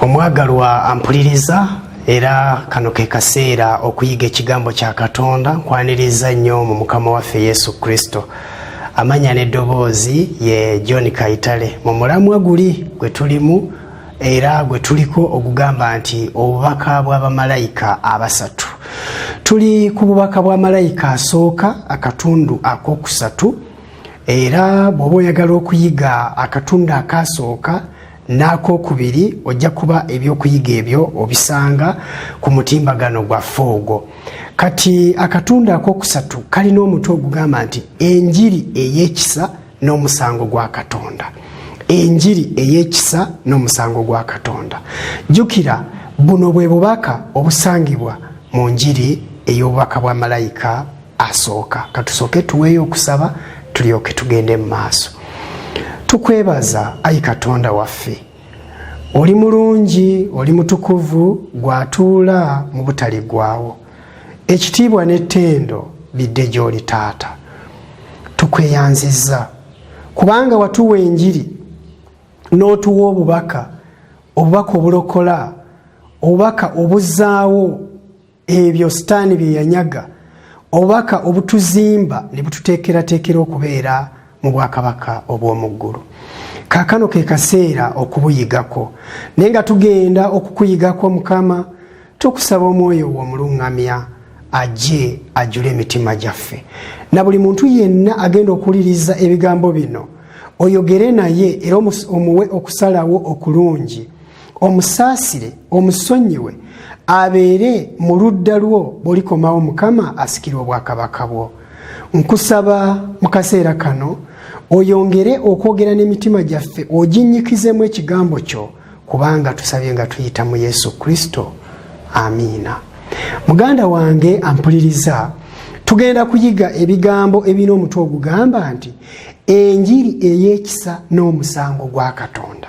omwagalwa ampuliriza era kano ke kaseera okuyiga ekigambo kya katonda nkwaniriza nnyo mu mukama waffe yesu kristo amanya n'eddoboozi ye john kaitale mu mulamwa guli gwe tulimu era gwe tuliko ogugamba nti obubaka bw'abamalayika abasatu tuli ku bubaka bwa malayika asooka akatundu ak'okusatu era bw'oba oyagala okuyiga akatundu akaasooka n'akokubiri ojja kuba ebyokuyiga ebyo obisanga ku mutimbagano gwaffe ogwo kati akatundu akokusatu kalina omutwe ogugamba nti enjiri ey'ekisa n'omusango gwa katonda enjiri ey'ekisa n'omusango gwa katonda jjukira buno bwe bubaka obusangibwa mu njiri ey'obubaka bwa malayika asooka katusooke tuweeyo okusaba tulyoke tugende mu maaso tukwebaza ayi katonda waffe oli mulungi oli mutukuvu gwatuula mu butaligwawo ekitiibwa n'ettendo bidde gy'oli taata tukweyanziza kubanga watuwa enjiri n'otuwa obubaka obubaka obulokola obubaka obuzaawo ebyo sitaani bye yanyaga obubaka obutuzimba ne bututeekerateekera okubeera mu bwakabaka obw'omu ggulu kaakano ke kaseera okubuyigako naye nga tugenda okukuyigako mukama tukusaba omwoyo wo omuluŋŋamya ajje ajjule emitima gyaffe na buli muntu yenna agenda okuwuliriza ebigambo bino oyogere naye era omuwe okusalawo okulungi omusaasire omusonyiwe abeere mu ludda lwo bwolikomawo mukama asikire obwakabaka bwo nkusaba mu kaseera kano oyongere okwogera n'emitima gyaffe oginnyikizemu ekigambo kyo kubanga tusabye nga tuyita mu yesu kristo amiina muganda wange ampuliriza tugenda kuyiga ebigambo ebirina omutwe ogugamba nti enjiri ey'ekisa n'omusango gwa katonda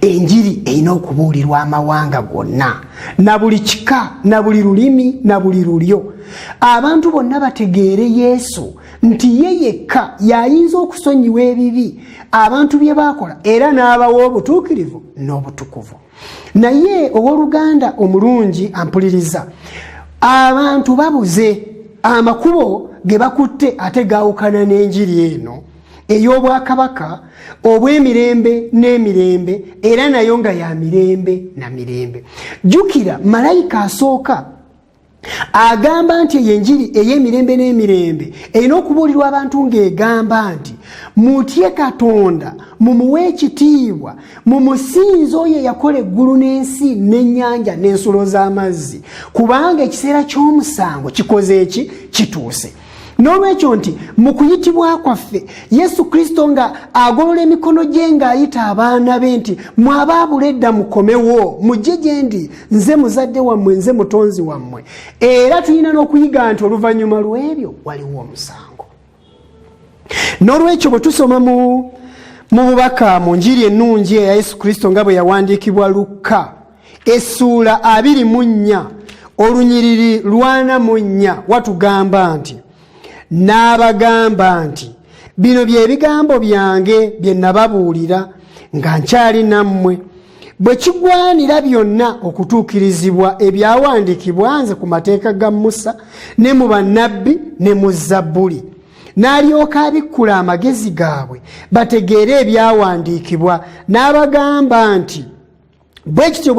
enjiri erina okubuulirwa amawanga gonna na buli kika na buli lulimi na buli lulyo abantu bonna bategeere yesu nti ye yekka y'ayinza okusonyiwa ebibi abantu bye baakola era n'abawa obutuukirivu n'obutukuvu naye ow'oluganda omulungi ampuliriza abantu babuze amakubo ge bakutte ate gaawukana n'enjiri eno ey'obwakabaka obw'emirembe n'emirembe era nayo nga ya mirembe na mirembe jjukira malayika asooka agamba nti eyo enjiri ey'emirembe n'emirembe erina okubuulirwa abantu ng'egamba nti mutye katonda mumuwe ekitiibwa mumusinza oyo eyakola eggulu n'ensi n'ennyanja n'ensulo z'amazzi kubanga ekiseera ky'omusango kikoze eki kituuse n'olwekyo nti mu kuyitibwa kwaffe yesu kristo nga agolola emikono gye ng'ayita abaana be nti mwabaabula edda mukomewo mujje gye ndi nze muzadde wammwe nze mutonzi wammwe era tulina n'okuyiga nti oluvannyuma lw'ebyo waliwo omusango n'olwekyo bwe tusoma mu bubaka mu njiri ennungi eya yesu kristo nga bwe yawandiikibwa lukka essuula abiri mu nnya olunyiriri lwana mu nnya watugamba nti n'abagamba nti bino bye bigambo byange bye nababuulira nga nkyali nammwe bwe kigwanira byonna okutuukirizibwa ebyawandiikibwa nze ku mateeka ga musa ne mu bannabbi ne mu zabbuli n'alyoka abikkula amagezi gaabwe bategeere ebyawandiikibwa n'abagamba nti bwe kityo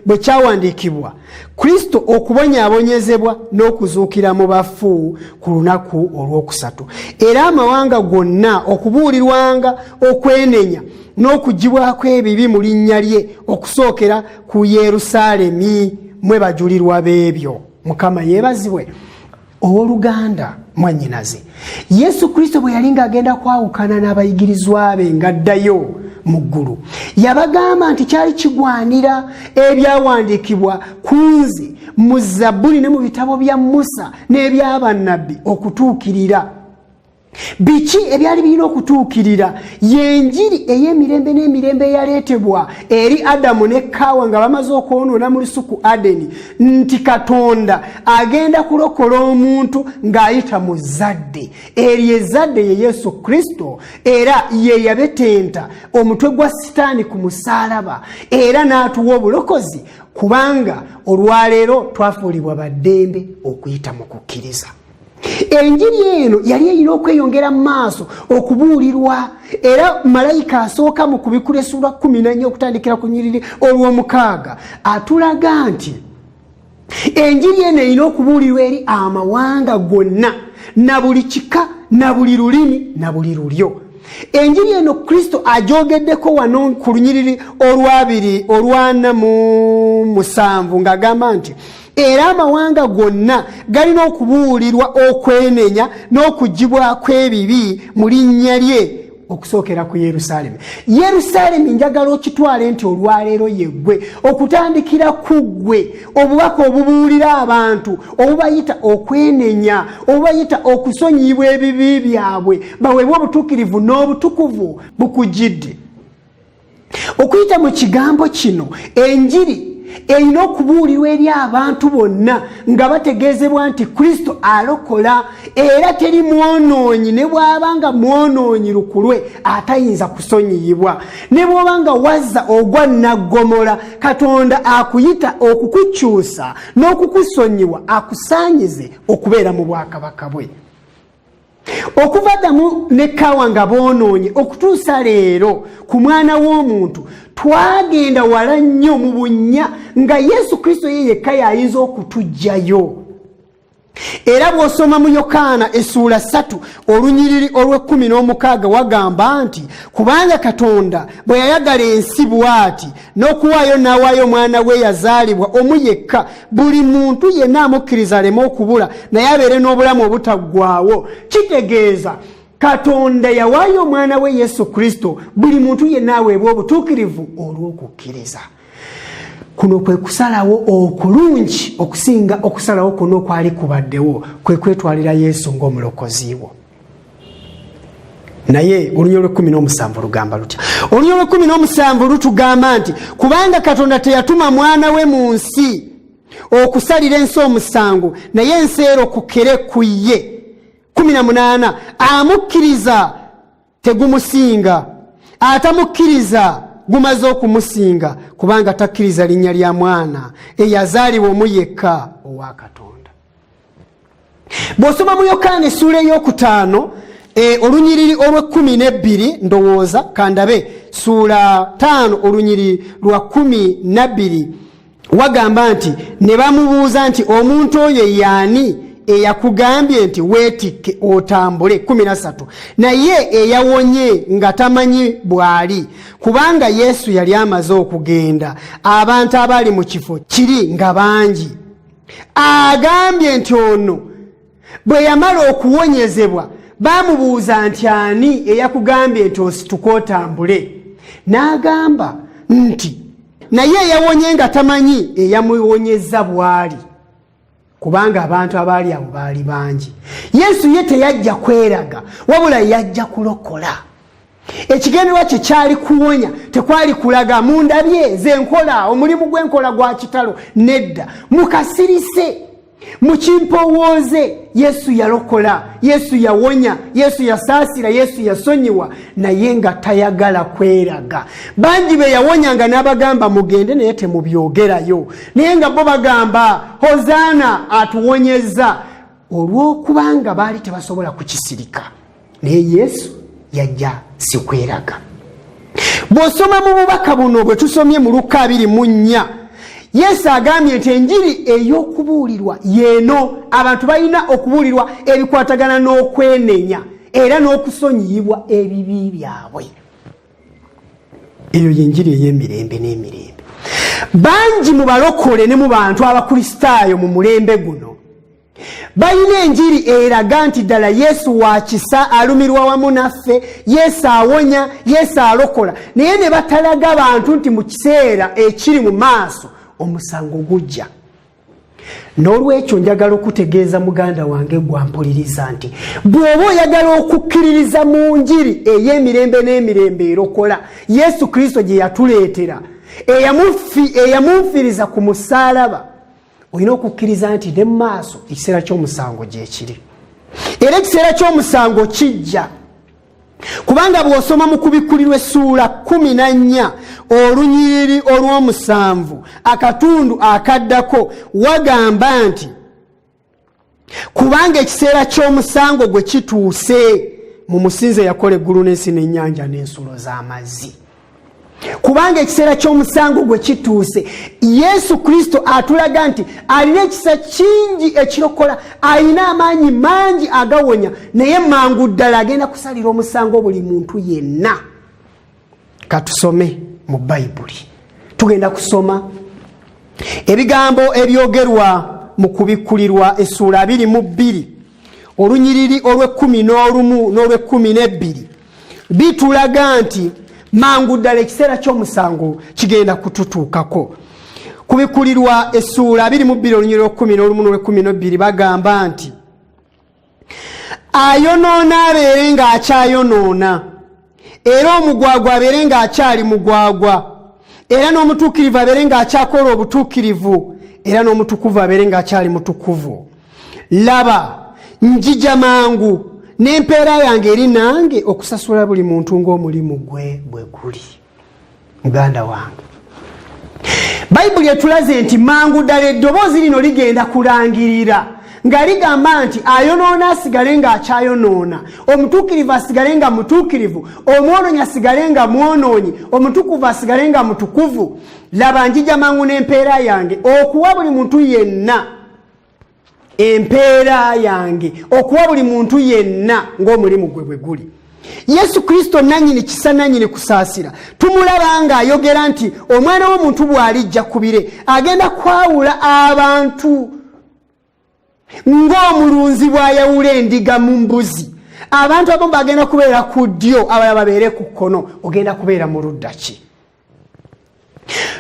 bwe kyawandiikibwa kristo okubonyaabonyezebwa n'okuzuukira mu bafu ku lunaku olw'okusatu era amawanga gonna okubuulirwanga okwenenya n'okugibwako ebibi mu linnya lye okusookera ku yerusaalemi mwe bajulirwa b'ebyo mukama yeebazibwe owoluganda mwanyinaze yesu kristo bwe yali ng'agenda kwawukana n'abayigirizwa be ng'addayo mu ggulu yabagamba nti kyali kigwanira ebyawandiikibwa ku nze mu zabbuli ne mu bitabo bya musa n'ebyabannabbi okutuukirira biki ebyali birina okutuukirira yenjiri ey'emirembe n'emirembe eyaleetebwa eri adamu ne kaawa nga bamaze okwonoona mu lusuku adeni nti katonda agenda kulokola omuntu ng'ayita mu zzadde eryo ezzadde ye yesu kristo era ye yabetenta omutwe gwa sitaani ku musaalaba era n'atuwa obulokozi kubanga olwaleero twafuulibwa baddembe okuyita mu kukkiriza enjiri eno yali erina okweyongera mu maaso okubuulirwa era malayika asooka mu kubikulesulwa kumi nanya okutandikira ku nyiriri olw'omukaaga atulaga nti enjiri eno erina okubuulirwa eri amawanga gonna na buli kika na buli lulimi na buli lulyo enjiri eno kristo ajogeddeko wano ku lunyiriri olwabiri olwana mu musanvu ng'agamba nti era amawanga gonna galina okubuulirwa okwenenya n'okugibwako ebibi mu linnya lye okusookera ku yerusaalemi yerusaalemi njagala okitwale nti olwaleero yeggwe okutandikira ku ggwe obubaka obubuulira abantu obubayita okwenenya obubayita okusonyiyibwa ebibi byabwe baweebwa obutuukirivu n'obutukuvu bukugidde okuyita mu kigambo kino enjiri erina okubuulirwa eri abantu bonna nga bategeezebwa nti kristo alokola era teri mwonoonyi ne bw'aba nga mwonoonyi lukulwe atayinza kusonyiyibwa ne bw'oba nga wazza ogwa naggomola katonda akuyita okukukyusa n'okukusonyiwa akusaanyize okubeera mu bwakabaka bwe okuva damu ne kawa nga bonoonye okutuusa leero ku mwana w'omuntu twagenda wala nnyo mu bunnya nga yesu kristo ye yekka yayinza okutugjayo era bw'osoma mu yokaana essuula ssatu olunyiriri olw'ekkumi n'omukaaga wagamba nti kubanga katonda bwe yayagala ensi bw'ati n'okuwaayo n'awaayo omwana we yazaalibwa omu yekka buli muntu yenna amukkiriza aleme okubula naye abeere n'obulamu obutaggwaawo kitegeeza katonda yawaayo omwana we yesu kristo buli muntu yenna aweebwa obutuukirivu olw'okukkiriza kuno kwe kusalawo okulungi okusinga okusalawo kwonna okwali kubaddewo kwe kwetwalira yesu ng'omulokozi wo naye olunya olwekumi nomusanvu lugamba lutya olunya olwekumi nomusanvu lutugamba nti kubanga katonda teyatuma mwana we mu nsi okusalira ensi omusango naye ensi ero kukere ku ye kumi na munaana amukkiriza tegumusinga atamukkiriza gumaze okumusinga kubanga takkiriza linnya lya mwana eyazaalibwa omu yekka owa katonda bw'osoma mu yokaana essuula ey'okutaano e, olunyiriri olw'ekkumi n'ebbiri ndowooza kandabe suula taano olunyiriri lwa kkumi nabbiri wagamba nti ne bamubuuza nti omuntu oyo yaani eyakugambye nti weetikke otambule kumi nasatu naye eyawonye nga tamanyi bw'ali kubanga yesu yali amaze okugenda abantu abaali mu kifo kiri nga bangi agambye nti ono bwe yamala okuwonyezebwa baamubuuza nti ani eyakugambye nti osituka otambule n'agamba nti naye eyawonye nga tamanyi eyamuwonyeza bwali kubanga abantu abaali abo baali bangi yesu ye teyajja kweraga wabula yajja kulokola ekigenderwa kye kyali kuwonya tekwali kulaga mundabye ze nkola omulimu gw'enkola gwa kitalo nedda mukasirise mukimpowooze yesu yalokola yesu yawonya yesu yasaasira yesu yasonyiwa naye nga tayagala kweraga bangi be yawonya nga n'abagamba mugende naye temubyogerayo naye nga bo bagamba hozaana atuwonyezza olw'okubanga baali tebasobola kukisirika naye yesu yajja sikweraga bw'osoma mu bubaka buno bwe tusomye mu lukka abiri mu nnya yesu agambye nti enjiri ey'okubuulirwa yeeno abantu balina okubuulirwa ebikwatagana n'okwenenya era n'okusonyiyibwa ebibi byabwe eyo yenjiri ey'emirembe n'emirembe bangi mu balokole ne mu bantu abakristaayo mu mulembe guno balina enjiri eraga nti ddala yesu wa kisa alumirwa wamu naffe yesu awonya yesu alokola naye ne batalaga bantu nti mu kiseera ekiri mu maaso omusango gujja n'olwekyo njagala okutegeeza muganda wange gwampuliriza nti bw'oba oyagala okukkiririza mu njiri ey'emirembe n'emirembe erokola yesu kristo gye yatuleetera eyamunfiriza ku musaalaba olina okukkiriza nti ne maaso ekiseera ky'omusango gyekiri era ekiseera ky'omusango kijja kubanga bw'osoma mu kubikkulirwa essuula kumi na nnya olunyiriri olw'omusanvu akatundu akaddako wagamba nti kubanga ekiseera ky'omusango gwe kituuse mu musinze yakola eggulu n'ensi n'ennyanja n'ensulo z'amazzi kubanga ekiseera ky'omusango gwe kituuse yesu kristo atulaga nti alina ekisa kingi ekirokola alina amaanyi mangi agawonya naye mangu ddala agenda kusalira omusango buli muntu yenna katusome mu bayibuli tugenda kusoma ebigambo ebyogerwa mu kubikkulirwa essuula abiri mu bbiri olunyiriri olw'ekkumi n'olumu n'olw'ekkumi n'ebbiri bitulaga nti mangu ddala ekiseera ky'omusango kigenda kututuukako kubikkulirwa essuula abiri mu bbiri olunyiriri olw'ekkumi n'olumu n'olw'ekkumi n'ebbiri bagamba nti ayonoona abeere ng'akyayonoona era omugwagwa abeere ng'akyali mugwagwa era n'omutuukirivu abeere ng'akyakola obutuukirivu era n'omutukuvu abeere ng'akyali mutukuvu laba njija mangu n'empeera yange eri nange okusasula buli muntu ng'omulimu gwe bwe guli muganda wange bayibuli etulaze nti mangu ddala eddoboozi lino ligenda kulangirira nga ligamba nti ayonoona asigale ng'akyayonoona omutuukirivu asigale nga mutuukirivu omwonoonyi asigale nga mwonoonyi omutukuvu asigale nga mutukuvu laba njija mangu n'empeera yange okuwa buli muntu yenna empeera yange okuwa buli muntu yenna ng'omulimu gwe bwe guli yesu kristo nanyini kisa nanyini kusaasira tumulaba nga ayogera nti omwana w'omuntu bw'alijja ku bire agenda kwawula abantu ng'omulunzi bw'ayawula endiga mu mbuzi abantu abamu bagenda kubeera ku ddyo abala babeere ku kkono ogenda kubeera mu ludda ki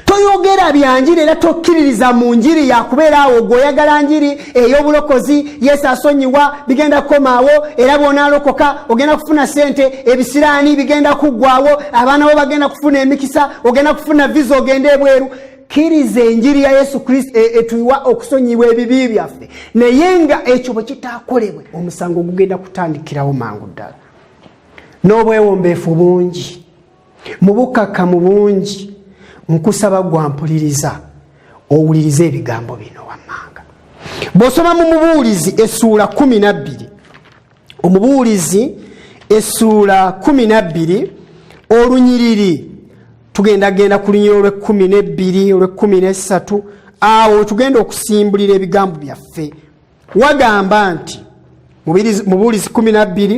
toyogera bya njiri era tokkiririza mu njiri yakubeera awo gwe oyagala njiri ey'obulokozi yesu asonyiwa bigenda kukomaawo era bw'onaalokoka ogenda kufuna ssente ebisiraani bigenda kuggwawo abaana bo bagenda kufuna emikisa ogenda kufuna viza ogenda ebweru kkiriza enjiri ya yesu kristo e, etuwa okusonyibwa ebibi byaffe naye nga ekyo bwe kitaakolebwe omusango gugenda kutandikirawo mangu ddala n'obwewombeefu bungi mu bukkakkamu bungi nkusaba gwampuliriza owulirize ebigambo bino wammanga bw'osoma mu mubuulizi essuula kumi nabbiri omubuulizi essuula kumi nabbiri olunyiriri tugenda genda ku lunyiri olw'ekkumi n'ebbiri olw'ekkumi n'essatu awo wetugenda okusimbulira ebigambo byaffe wagamba nti mubuulizi kumi nabbiri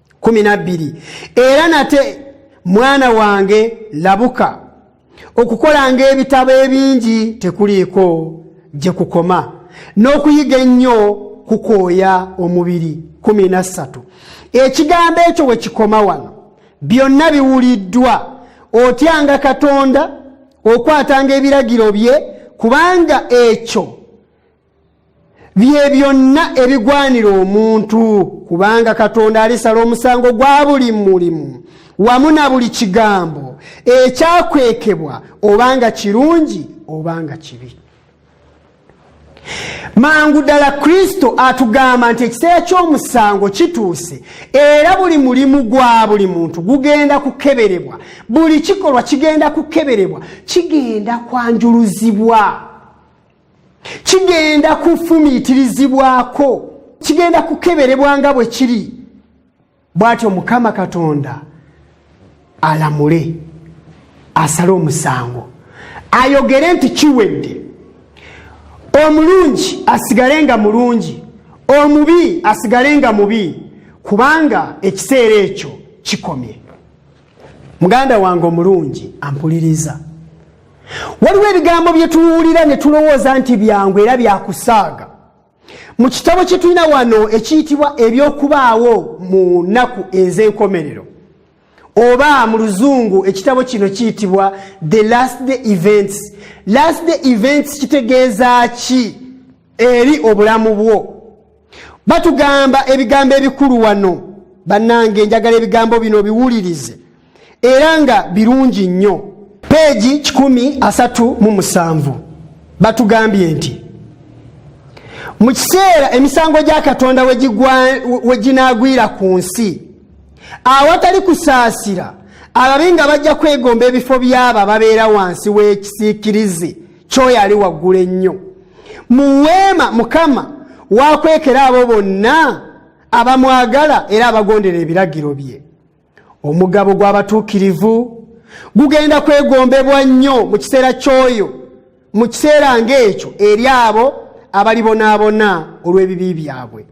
kumi nabbiri era nate mwana wange labuka okukolanga ebitabo ebingi tekuliiko gye kukoma n'okuyiga ennyo kukooya omubiri kumi nassatu ekigambo ekyo we kikoma wano byonna biwuliddwa otyanga katonda okwatanga ebiragiro bye kubanga ekyo bye byonna ebigwanira omuntu kubanga katonda alisala omusango gwa buli mulimu wamu na buli kigambo ekyakwekebwa obanga kirungi obanga kibi mangu ddala kristo atugamba nti ekiseera ky'omusango kituuse era buli mulimu gwa buli muntu gugenda kukeberebwa buli kikolwa kigenda kukeberebwa kigenda kwanjuluzibwa kigenda kufumiitirizibwako kigenda kukeberebwa nga bwe kiri bw'atyo mukama katonda alamule asale omusango ayogere nti kiwedde omulungi asigale nga mulungi omubi asigale nga mubi kubanga ekiseera ekyo kikomye muganda wange omulungi ampuliriza waliwo ebigambo bye tuwulira ne tulowooza nti byangu era byakusaaga mu kitabo kye tulina wano ekiyitibwa eby'okubaawo mu nnaku ez'enkomerero oba mu luzungu ekitabo kino kiyitibwa the last day events last day events kitegeeza ki eri obulamu bwo batugamba ebigambo ebikulu wano bannange njagala ebigambo bino biwulirize era nga birungi nnyo peegi 137 batugambye nti mu kiseera emisango gya katonda we ginaagwira ku nsi awatali kusaasira ababi nga bajja kwegomba ebifo by'abo ababeera wansi w'ekisiikirize kyoyo ali waggulu ennyo mu weema mukama wakwekera abo bonna abamwagala era abagondera ebiragiro bye omugabo gw'abatuukirivu gugenda kwegombebwa nnyo mu kiseera ky'oyo mu kiseera ng'ekyo eri abo abalibonaabona olw'ebibi byabwe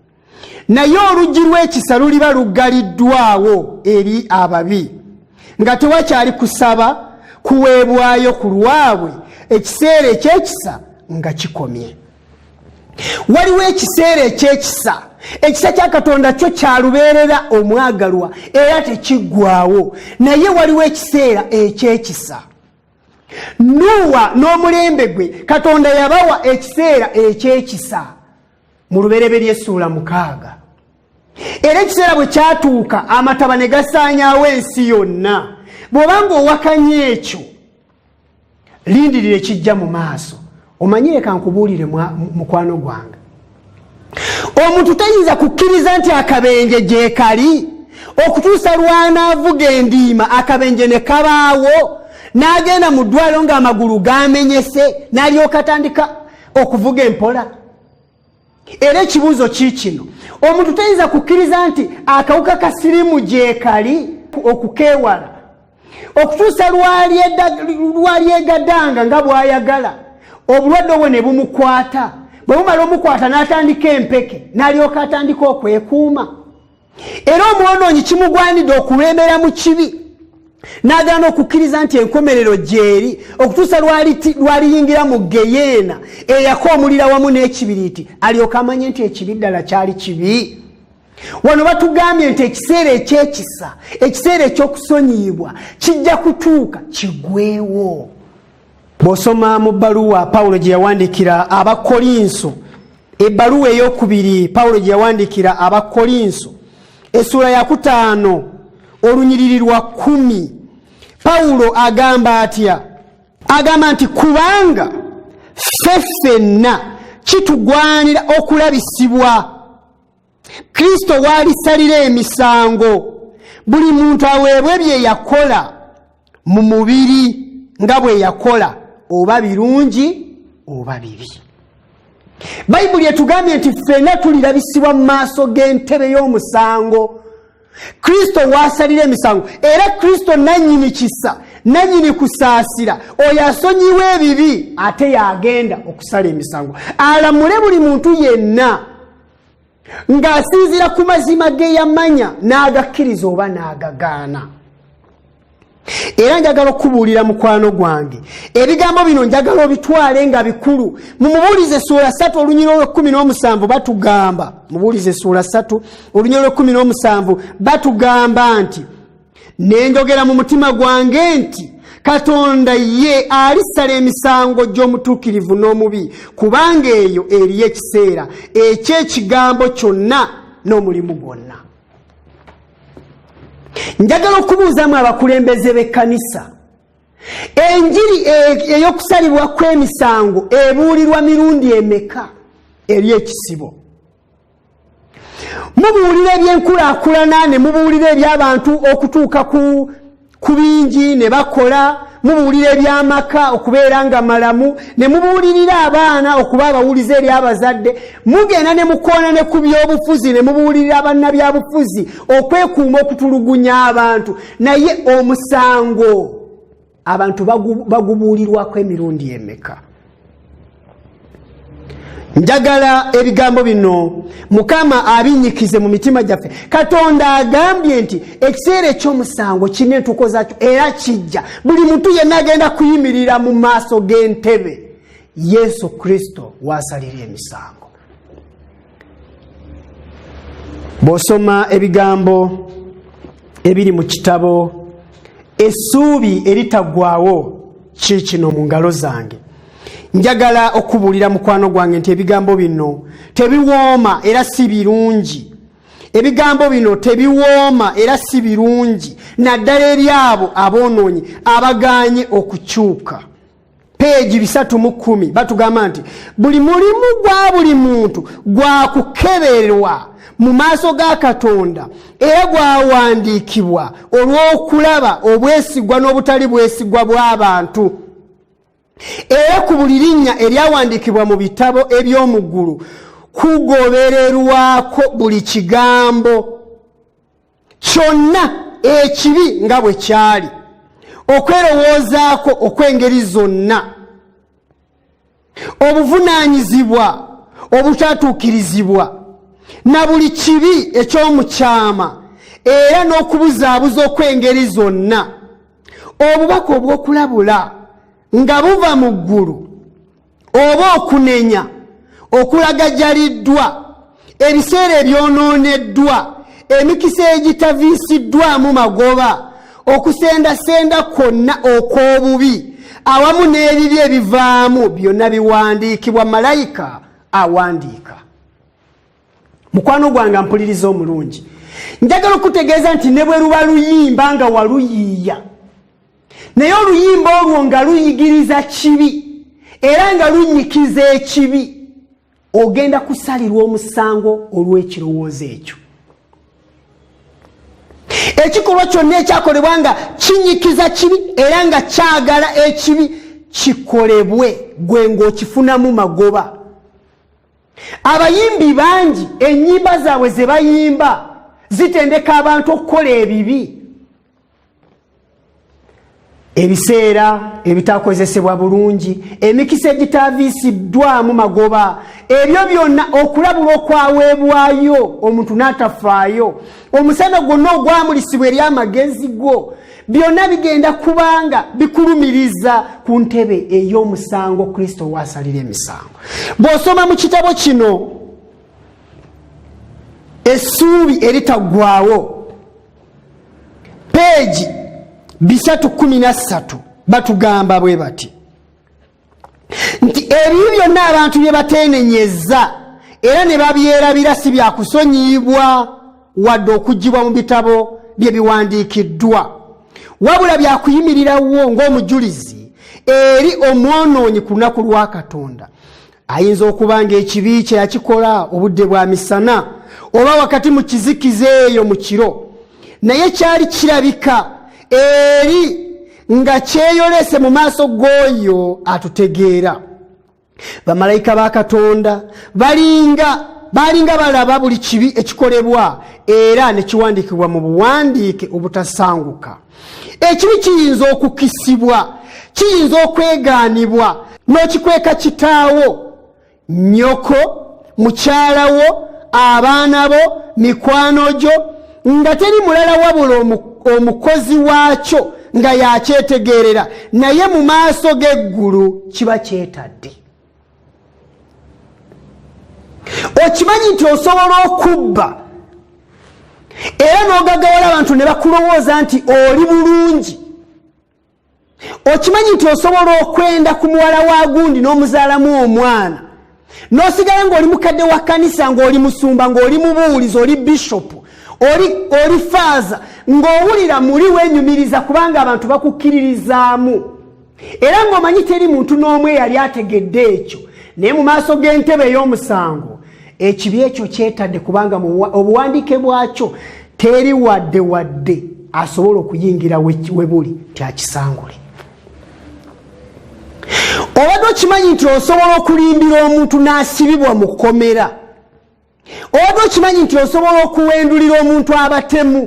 naye oluggi lw'ekisa luliba luggaliddwawo eri ababi nga tewakyali kusaba kuweebwayo ku lwabwe ekiseera eky'ekisa nga kikomye waliwo ekiseera eky'ekisa ekisa kya katonda kyo kyalubeerera omwagalwa era tekiggwawo naye waliwo ekiseera eky'ekisa nuuwa n'omulembe gwe katonda yabawa ekiseera eky'ekisa mu lubereberye essuula mukaaga era ekiseera bwe kyatuuka amataba ne gasaanyaawo ensi yonna bw'oba ng'owakanya ekyo lindirira ekijja mu maaso omanyi leka nkubuulire mukwano gwange omuntu tayinza kukkiriza nti akabenje gyekali okutuusa lwanaavuga endiima akabenje ne kabaawo n'agenda mu ddwaliro ng'amagulu gamenyese n'alyoka tandika okuvuga empola era ekibuuzo kiikino omuntu tayinza kukkiriza nti akawuka ka sirimu gyekali okukeewala okutuusa lwalyegadanga nga bwayagala obulwadde obwo ne bumukwata bwe bumala omukwata n'atandika empeke n'alyoka atandika okwekuuma era omwonoonyi kimugwanidde okulembera mu kibi n'agaana okukkiriza nti enkomerero gyeri okutuusa lwaliyingira mu geyeena eyaka omulira wamu n'ekibiriiti alyoka amanye nti ekibi ddala kyali kibi wano batugambye nti ekiseera ekyekisa ekiseera ekyokusonyiyibwa kijja kutuuka kigwewo bw'osoma mu bbaluwa pawulo gye yawandiikira abakolinso ebbaluwa ey'okubiri pawulo gye yawandiikira abakolinso essuula ya kutaano olunyiriri lwa kumi pawulo agamba atya agamba nti kubanga ffe ffenna kitugwanira okulabisibwa kristo waalisalira emisango buli muntu aweebwe bye yakola mu mubiri nga bwe yakola oba birungi oba bibi bayibuli etugambye nti ffena tulirabisibwa mu maaso g'entebe y'omusango kristo waasalira emisango era kristo nannyini kisa nanyini kusaasira oyo asonyiwa ebibi ate yagenda okusala emisango alamule buli muntu yenna ng'asinziira ku mazima ge yamanya n'agakkiriza oba n'agagaana era njagala okukubuulira mukwano gwange ebigambo bino njagala obitwale nga bikulu mu mubuulize suula satu olunyira olwekumi n'omusanvu batugamba mubuulize suula satu olunyira olwekumi n'omusanvu batugamba nti ne njogera mu mutima gwange nti katonda ye alisala emisango gy'omutuukirivu n'omubi kubanga eyo eriyo ekiseera eky'ekigambo kyonna n'omulimu gwonna njagala okubuuzamu abakulembeze b'ekkanisa enjiri e- ey'okusalibwa kw'emisango ebuulirwa mirundi emeka eri ekisibo mubuulira ebyenkulaakulana ne mubuulira ebyabantu okutuuka ku bingi ne bakola mubuulira ebyamaka okubeera nga malamu ne mubuulirira abaana okuba abawulize eri abazadde mugenda ne mukoona ne ku byobufuzi ne mubuulirira bannabyabufuzi okwekuuma okutulugunya abantu naye omusango abantu bagubuulirwako emirundi emeka njagala ebigambo bino mukama abinyikize mu mitima gyaffe katonda agambye nti ekiseera ekyomusango kirina entuuko zakyo era kijja buli muntu yenna agenda kuyimirira mu maaso g'entebe yesu kristo waasalira emisango bw'osoma ebigambo ebiri mu kitabo essuubi eritaggwawo kiikino mu ngalo zange njagala okubuulira mukwano gwange nti ebigambo bino tebiwooma era si birungi ebigambo bino tebiwooma era si birungi naddala eri abo aboonoonyi abagaanye okukyuka peegi bisatu mu kkumi batugamba nti buli mulimu gwa buli muntu gwa kukeberwa mu maaso ga katonda era gwawandiikibwa olw'okulaba obwesigwa n'obutali bwesigwa bw'abantu era ku buli linnya eryawandiikibwa mu bitabo eby'omu ggulu kugobererwako buli kigambo kyonna ekibi nga bwe kyali okwerowoozaako okw'engeri zonna obuvunaanyizibwa obutatuukirizibwa na buli kibi eky'omukyama era n'okubuzaabuza okw'engeri zonna obubaka obw'okulabula nga buva mu ggulu oba okunenya okulagajaliddwa ebiseera ebyonooneddwa emikisa egitaviisiddwamu magoba okusendasenda kwonna okw'obubi awamu n'ebibi ebivaamu byonna biwandiikibwa malayika awandiika mukwano gwange mpuliriza omulungi njagala okutegeeza nti ne bwe luba luyimba nga waluyiiya naye oluyimba olwo nga luyigiriza kibi era nga lunyikiza ekibi ogenda kusalirwa omusango olw'ekirowoozo ekyo ekikolwa kyonna ekyakolebwa nga kinyikiza kibi era nga kyagala ekibi kikolebwe gwe ng'okifunamu magoba abayimbi bangi ennyimba zaabwe ze bayimba zitendeka abantu okukola ebibi ebiseera ebitakozesebwa bulungi emikisa egitaviisiddwamu magoba ebyo byonna okulabula okwaweebwayo omuntu n'atafaayo omusana gwonna ogwamulisibwa eri amagezi gwo byonna bigenda kubanga bikulumiriza ku ntebe ey'omusango kristo waasalira emisango bw'osoma mu kitabo kino essuubi eritaggwawo peegi bisatu kumi na ssatu batugamba bwe bati nti ebibi byonna abantu bye bateenenyezza era ne babyerabira si byakusonyiyibwa wadde okuggibwa mu bitabo bye biwandiikiddwa wabula byakuyimirirawo ng'omujulizi eri omwonoonyi ku lunaku lwa katonda ayinza okuba ng'ekibi kye yakikola obudde bwa misana oba wakati mu kizikiza eyo mu kiro naye kyali kirabika eri nga kyeyolese mu maaso g'oyo atutegeera bamalayika ba katonda balinga balinga balaba buli kibi ekikolebwa era ne kiwandiikibwa mu buwandiike obutasanguka ekibi kiyinza okukisibwa kiyinza okwegaanibwa n'okikweka kitaawo nyoko mukyala wo abaana bo mikwano gyo nga teri mulala wabula omukozi waakyo nga yakyetegeerera naye mu maaso g'eggulu kiba kyetadde okimanyi nti osobola okubba era n'ogagawala abantu ne bakulowooza nti oli bulungi okimanyi nti osobola okwenda ku muwala wa gundi n'omuzaalamu omwana n'osigala ng'oli mukadde wa kkanisa ng'oli musumba ng'oli mubuulizi oli bishopu oli oli faaza ng'owulira muli wenyumiriza kubanga abantu bakukkiririzaamu era ng'omanyi teri muntu n'omu eyali ategedde ekyo naye mu maaso g'entebe ey'omusango ekibi ekyo kyetadde kubanga obuwandiike bwakyo teri wadde wadde asobola okuyingira we buli nti akisangule obadde okimanyi nti osobola okulimbira omuntu n'asibibwa mu kkomera obadde okimanyi nti osobola okuwendulira omuntu abatemu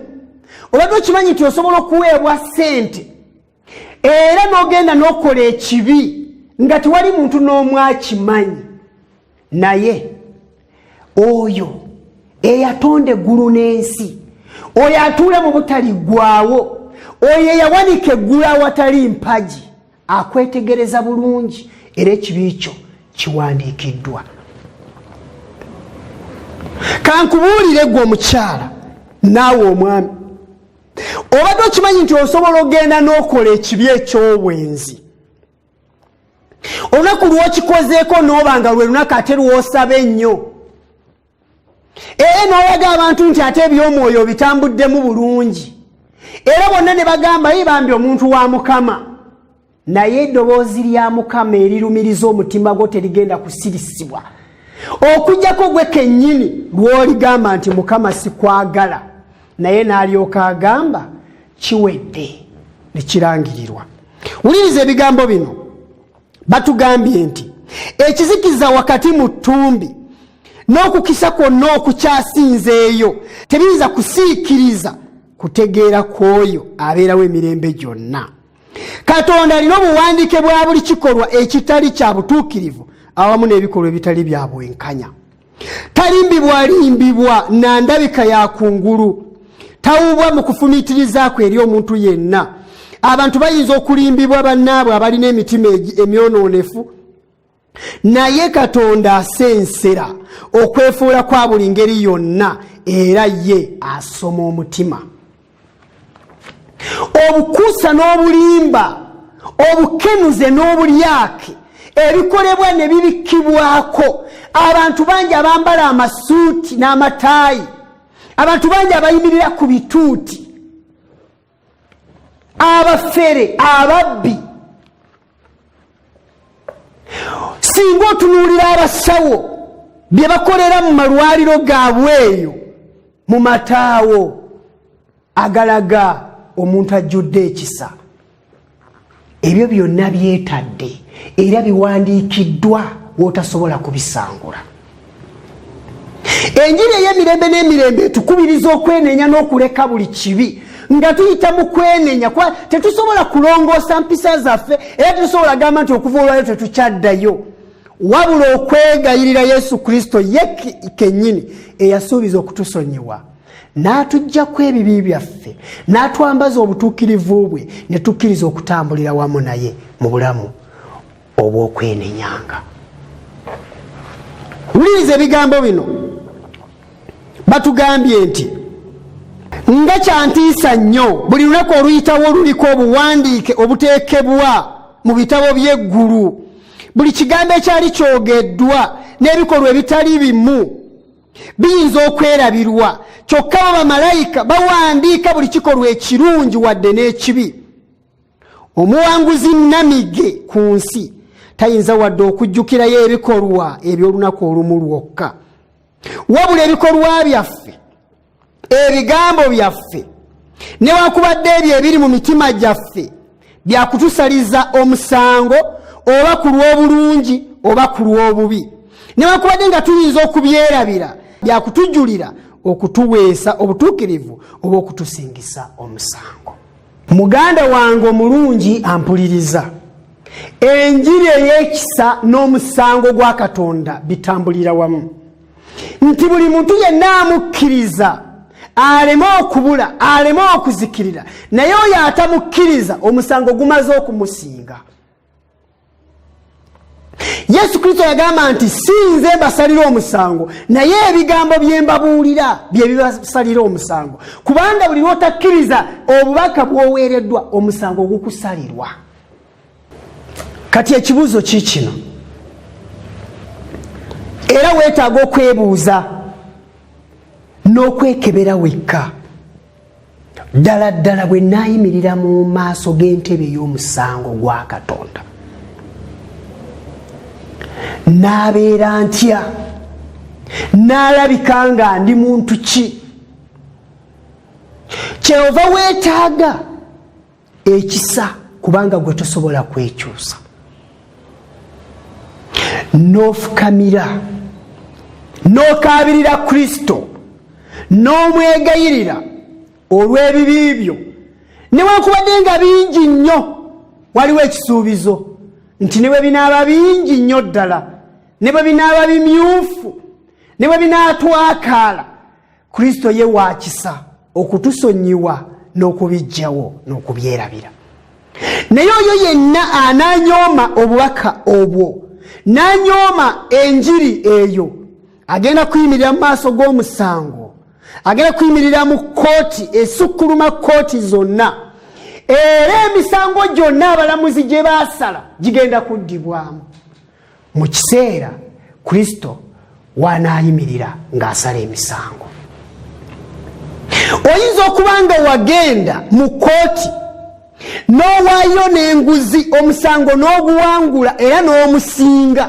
obadde okimanyi nti osobola okuweebwa ssente era nogenda nokola ekibi nga tewali muntu n'omu akimanyi naye oyo eyatonda eggulu n'ensi oyo atuule mu butali ggwawo oyo eyawanika eggulu awatali mpagi akwetegereza bulungi era ekibi kyo kiwandiikiddwa kankubuulire gwe omukyala naawe omwami obadde okimanyi nti osobola ogenda n'okola ekibi eky'obwenzi olunaku lwokikozeeko n'oba nga lwe lunaku ate lwosaba ennyo era n'olaga abantu nti ate eby'omwoyo bitambuddemu bulungi era bonna ne bagamba yi bambi omuntu wa mukama naye eddoboozi lya mukama erirumiriza omutima gwo terigenda kusirisibwa okujjako gwe kennyini lw'oligamba nti mukama sikwagala naye n'alyoka agamba kiwedde ne kirangirirwa wuliriza ebigambo bino batugambye nti ekizikiza wakati mu ttumbi n'okukisa kwonna okukyasinzeeyo tebiyinza kusiikiriza kutegeera kw'oyo abeerawo emirembe gyonna katonda alina obuwandiike bwa buli kikolwa ekitali kya butuukirivu awamu n'ebikolwa ebitali bya bwenkanya talimbibwalimbibwa na ndabika ya kungulu tawubwa mu kufumiitirizako eri omuntu yenna abantu bayinza okulimbibwa bannaabwe abalina emitima emyonoonefu naye katonda asensera okwefuula kwa buli ngeri yonna era ye asoma omutima obukuusa n'obulimba obukenuze n'obulyake ebikolebwa ne bibikkibwako abantu bangi abambala amasuuti n'amataayi abantu bangi abayimirira ku bituuti abafere ababbi singa otunuulira abasawo bye bakolera mu malwaliro gaabwe eyo mu mataawo agalaga omuntu ajjudde ekisa ebyo byonna byetadde era biwandiikiddwa wotasobola kubisangula enjiri ey'emirembe n'emirembe etukubiriza okwenenya n'okuleka buli kibi nga tuyita mu kwenenya kuba tetusobola kulongoosa mpisa zaffe era tetusobola gamba nti okuva olwayo tetukyaddayo wabula okwegayirira yesu kristo ye kennyini eyasuubiza okutusonyiwa n'atuggyako ebibi byaffe n'atwambaza obutuukirivu bwe ne tukkiriza okutambulira wamu naye mu bulamu obw'okwenenyanga wuliriza ebigambo bino batugambye nti nga kyantiisa nnyo buli lunaku oluyitawo oluliko obuwandiike obuteekebwa mu bitabo by'eggulu buli kigambo ekyali kyogeddwa n'ebikolwa ebitali bimu biyinza okwerabirwa kyokka bo bamalayika bawandiika buli kikolwa ekirungi wadde n'ekibi omuwanguzi namige ku nsi tayinza wadde okujjukirayo ebikolwa eby'olunaku olumu lwokka wabula ebikolwa byaffe ebigambo byaffe newakubadde ebyo ebiri mu mitima gyaffe byakutusaliza omusango oba ku lw'obulungi oba ku lw'obubi newakubadde nga tuyinza okubyerabira byakutujulira okutuweesa obutuukirivu oba okutusingisa omusango muganda wange omulungi ampuliriza enjiri ey'ekisa n'omusango gwa katonda bitambulira wamu nti buli muntu yenna amukkiriza aleme okubula aleme okuzikirira naye oyo atamukkiriza omusango gumaze okumusinga yesu kristo yagamba nti si nze mbasalira omusango naye ebigambo bye mbabuulira bye bibasalira omusango kubanga buli lwotakkiriza obubaka bwoweereddwa omusango gukusalirwa kati ekibuuzo kiikino era weetaaga okwebuuza n'okwekebera wekka ddala ddala bwe naayimirira mu maaso g'entebe y'omusango gwa katonda naabeera ntya naalabika nga ndi muntu ki kyeyova weetaaga ekisa kubanga gwe tosobola kwekyusa nofukamira nokabirira kristo nomwegayirira olw'ebibi byo newankubadde nga bingi nnyo waliwo ekisuubizo nti ne bwe binaaba bingi nnyo ddala ne bwe binaaba bimyufu ne bwe binaatwakaala kristo ye wakisa okutusonyiwa n'okubijjawo n'okubyerabira naye oyo yenna ananyooma obubaka obwo nanyooma enjiri eyo agenda kuyimirira mu maaso g'omusango agenda kuyimirira mu kkooti esukkuluma kkooti zonna era emisango gyonna abalamuzi gye baasala gigenda kuddibwamu mu kiseera kristo wanaayimirira ng'asala emisango oyinza okuba nga wagenda mu kooti n'owaayo n'enguzi omusango n'oguwangula era n'omusinga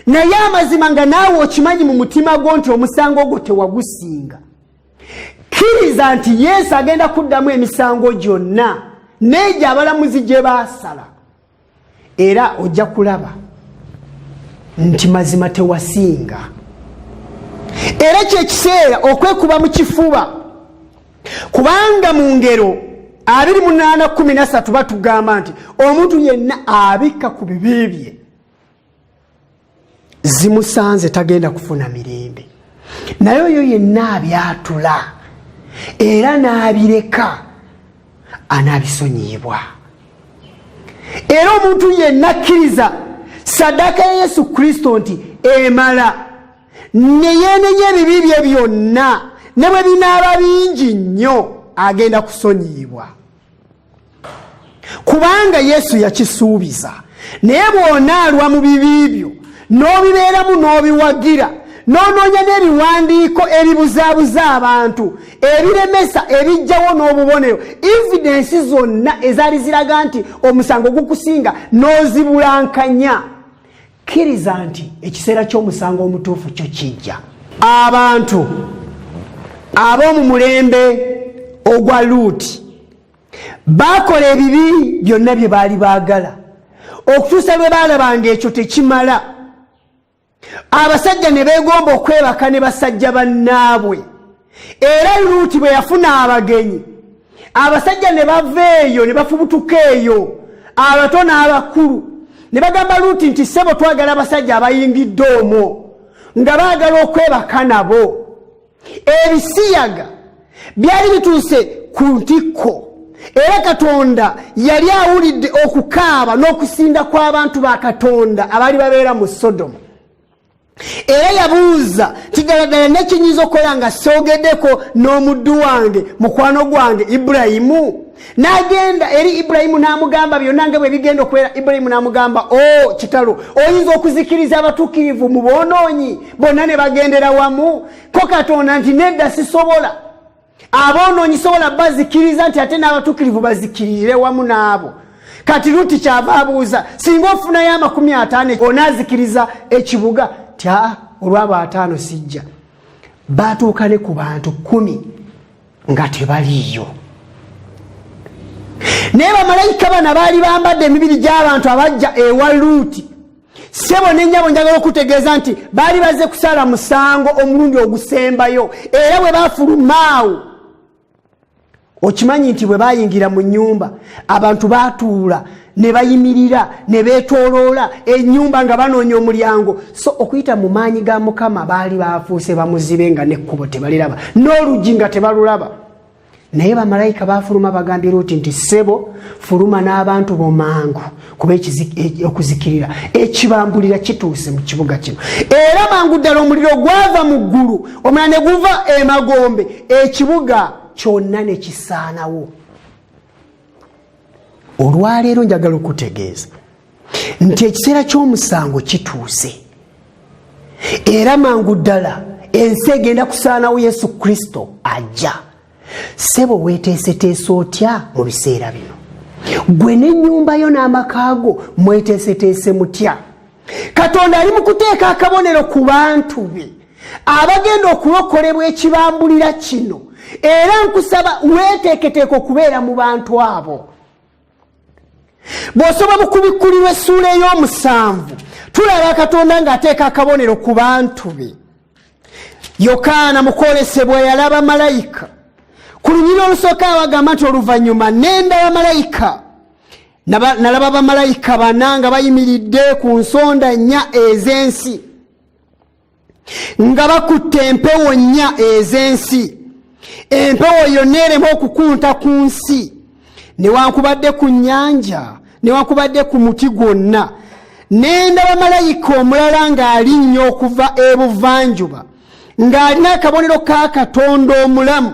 naye amazima nga naawe okimanyi mu mutima gwo nti omusango ogwo tewagusinga kkiriza nti yesu agenda kuddamu emisango gyonna n'egyo abalamuzi gye baasala era ojja kulaba nti mazima tewasinga era kyekiseera okwekuba mu kifuba kubanga mu ngero 2813 batugamba nti omuntu yenna abikka ku bibi bye zimusanze tagenda kufuna mirembe naye oyo yenna abyatula era n'abireka anaabisonyiyibwa era omuntu yenna akkiriza saddaaka ya yesu kristo nti emala neyeenenya ebibi bye byonna ne bwe binaaba bingi nnyo agenda kusonyiyibwa kubanga yesu yakisuubiza naye bw'onaalwa mu bibi byo n'obibeeramu n'obiwagira n'onoonya n'ebiwandiiko ebibuzaabuza abantu ebiremesa ebijjawo n'obubonero evidensi zonna ezaali ziraga nti omusango gukusinga n'ozibulankanya kkiriza nti ekiseera ky'omusango omutuufu kyo kijja abantu ab'omu mulembe ogwa luuti baakola ebibi byonna bye baali baagala okutuusa lwe baalaba ng'ekyo tekimala abasajja ne beegomba okwebaka ne basajja bannaabwe era luuti bwe yafuna abagenyi abasajja ne bava eyo ne bafubutuka eyo abato n'abakulu ne bagamba luuti nti ssebo twagala abasajja abayingidde omwo nga baagala okwebaka nabo ebisiyaga byali bituuse ku ntikko era katonda yali awulidde okukaaba n'okusinda kw'abantu ba katonda abaali babeera mu sodomu era yabuuza nti ddala ddala nekinyinza okukola nga soogedeko n'omuddu wange mukwano gwange ibulayimu n'agenda eri ibulayimu n'amugamba byonna nga bwe bigenda okubeera ibulayimu n'amugamba o oh, kitalo oyinza okuzikiriza abatuukirivu mu boonoonyi bonna ne bagendera wamu ko katonda nti nedda sisobola aboonoonyi sobola bazikiriza nti ate n'abatukirivu bazikirire wamu n'abo kati luti kyava abuuza singa ofunayo amakumi ataano onaazikiriza ekibuga tya olwabo ataano sijja baatuuka ne ku bantu kumi nga tebaliiyo naye bamalayika bana baali bambadde emibiri gy'abantu abajja ewa luuti sebo nenyabo njagala okutegeeza nti baali baze kusala musango omulundi ogusembayo era bwe bafulumaawo okimanyi nti bwe bayingira mu nyumba abantu batuula ne bayimirira ne betoloola enyumba nga banoonya omulyango so okuyita mu maanyi ga mukama baali bafuuse bamuzibe nga nekkubo tebaliraba n'oluggi nga tebalulaba naye bamalayika bafuluma bagambye luti nti sebo fuluma n'abantu bomangu kuba e-, okuzikirira ekibambulira kituuse mu kibuga kino era mangu ddala omuliro gwava mu ggulu omulala ne guva emagombe ekibuga kyonna ne kisaanawo olwaleero njagala okutegeeza nti ekiseera ky'omusango kituuse era mangu ddala ensi egenda kusaanawo yesu kristo ajja sebo weteeseteese otya mu biseera bino gwe n'ennyumba yo n'amaka go mweteeseteese mutya katonda ali mu kuteeka akabonero ku bantu be abagenda okulokolebwa ekibambulira kino era nkusaba weteeketeeka okubeera mu bantu abo bw'osoba mu kubikkulirwa essuula ey'omusanvu tulaba katonda ng'ateeka akabonero ku bantu be yokaana mu kwolesebwa yalaba malayika ku lunyiri olusooka abagamba nti oluvannyuma nenda bamalayika nalaba bamalayika bana nga bayimiridde ku nsonda nnya ez'ensi nga bakutte empewo nnya ez'ensi empewo yonna erema okukunta ku nsi newankubadde ku nnyanja newankubadde ku muti gwonna nendaba malayika omulala ng'alinnya okuva ebuvanjuba ng'alina akabonero ka katonda omulamu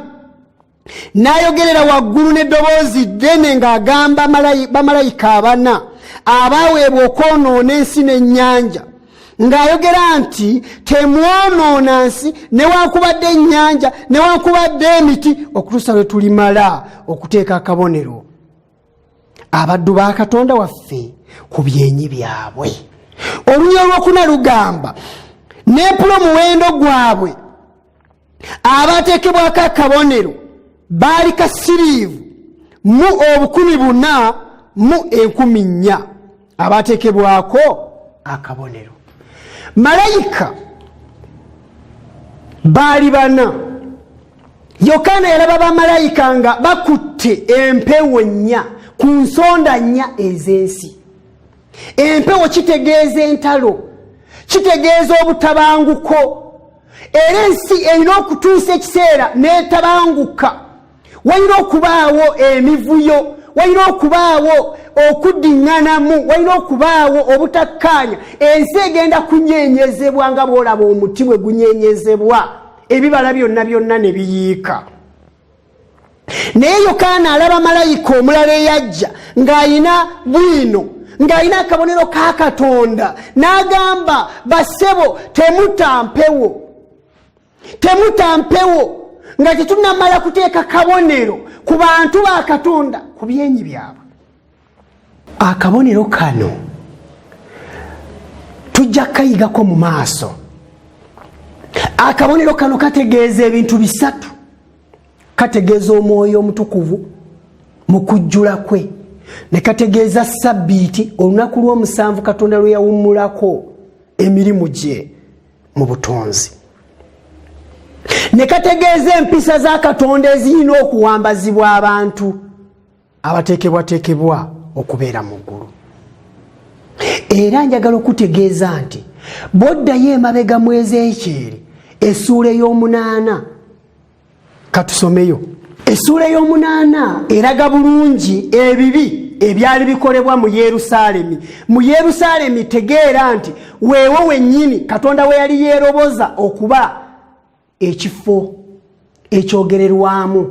n'ayogerera waggulu n'eddoboozi ddene ng'agamba bamalayika abana abaaweebwa okwonoona ensi n'ennyanja ng'ayogera nti temwonoona nsi newankubadde ennyanja newankubadde emiti okutuusa lwe tulimala okuteeka akabonero abaddu ba katonda waffe ku byenyi byabwe olunya olwokuna lugamba neepula omuwendo gwabwe abaateekebwako akabonero baali kasiriivu mu obukumi buna mu enkumi nnya abaateekebwako akabonero malayika baali bana yokaana yalaba bamalayika nga bakutte empewo nnya ku nsonda nnya ez'ensi empewo kitegeeza entalo kitegeeza obutabanguko era ensi erina okutuusa ekiseera n'etabanguka walina okubaawo emivuyo walina okubaawo okuddiŋŋanamu walina okubaawo obutakkaanya ensi egenda kunyeenyezebwa nga bw'olaba omuti bwe gunyeenyezebwa ebibala byonna byonna ne biyiika naye yokaana alaba malayika omulala eyajja ng'alina bwino ng'alina akabonero ka katonda n'agamba basebo temutampewo temutampewo nga tetunamala kuteeka kabonero ku bantu ba katonda ku byenyi byabwe akabonero kano tujja kukayigako mu maaso akabonero kano kategeeza ebintu bisatu kategeeza omwoyo omutukuvu mu kujjula kwe ne kategeeza sabbiiti olunaku lw'omusanvu katonda lwe yawummulako emirimu gye mu butonzi ne kategeeza empisa za katonda ezirina okuwambazibwa abantu abateekebwateekebwa okubeera mu ggulu era njagala okutegeeza nti boddayo emabega mu ezeekyeri essuula ey'omunaana katusomeyo essuula ey'omunaana eraga bulungi ebibi ebyali bikolebwa mu yerusaalemi mu yerusaalemi tegeera nti weewo wennyini katonda we yali yeeroboza okuba ekifo ekyogererwamu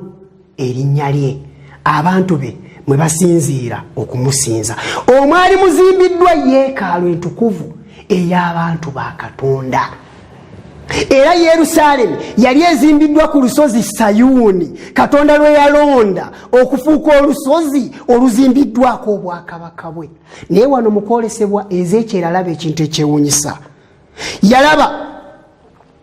erinnya lye abantu be mwe basinziira okumusinza omwali muzimbiddwa yeekaalu entukuvu ey'abantu ba katonda era yerusaalemi yali ezimbiddwa ku lusozi sayuuni katonda lwe yalonda okufuuka olusozi oluzimbiddwako obwakabaka bwe naye wano mukwolesebwa ezeekyeralaba ekintu ekyewunyisa yalaba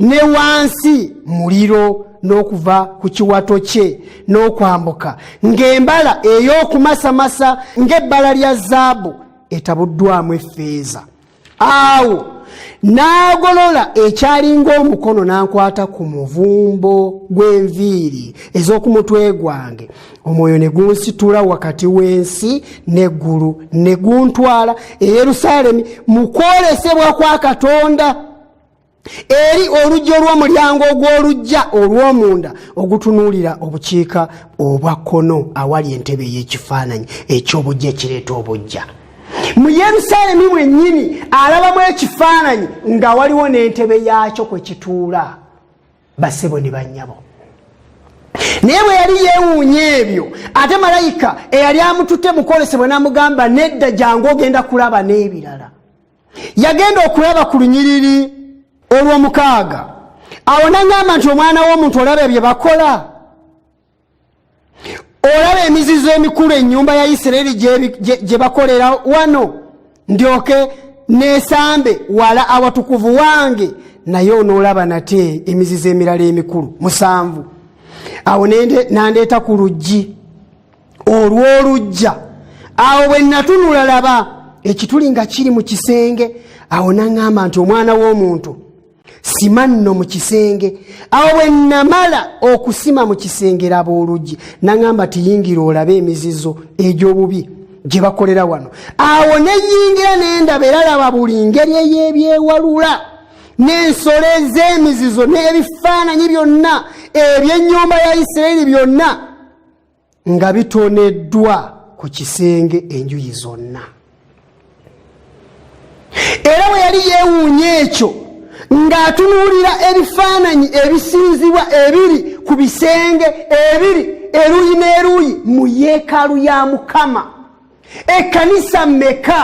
ne wansi muliro n'okuva ku kiwato kye n'okwambuka ng'embala ey'okumasamasa ng'ebbala lya zaabu etabuddwamu effeeza awo n'agolola ekyalinga omukono n'ankwata ku muvumbo gw'enviiri ez'oku mutwe gwange omwoyo ne gunsitula wakati w'ensi n'eggulu ne guntwala e yerusaalemi mu kwolesebwa kwa katonda eri oluggi olw'omulyango ogw'olugja olw'omunda ogutunuulira obukiika obwa kkono awali entebe ey'ekifaananyi eky'obujja ekireeta obujja mu yerusaalemi mwennyini alabamu ekifaananyi nga waliwo n'entebe yaakyo kwe kituula basebo ne bannyabo naye bwe yali yeewuunya ebyo ate malayika eyali amututte mukwolesebwa n'amugamba nedda jangu ogenda kulaba n'ebirala yagenda okulaba ku lunyiriri olw'omukaaga awo naŋamba nti omwana w'omuntu olaba ebye bakola olaba emizizo emikulu ennyumba ya isiraeri gye bakolera wano ndyoke neesambe wala awatukuvu wange naye onoolaba nate emizizo emirala emikulu musanvu awo nandeeta ku luggi olw'olujja awo bwe natunula laba ekituli nga kiri mu kisenge awo naŋŋamba nti omwana w'omuntu sima nno mu kisenge awo bwe namala okusima mu kisenge laba oluggi naŋŋamba tiyingira olabe emizizo egy'obubi gye bakolera wano awo neyingira nendaba era laba buli ngeri ey'ebyewalula n'ensolo ez'emizizo n'ebifaananyi byonna eby'ennyumba ya isiraeri byonna nga bitoneddwa ku kisenge enjuyi zonna era bwe yali yeewuunya ekyo ng'atunuulira ebifaananyi ebisinzibwa ebiri ku bisenge ebiri eruuyi n'eruuyi mu yeekaalu ya mukama ekkanisa meka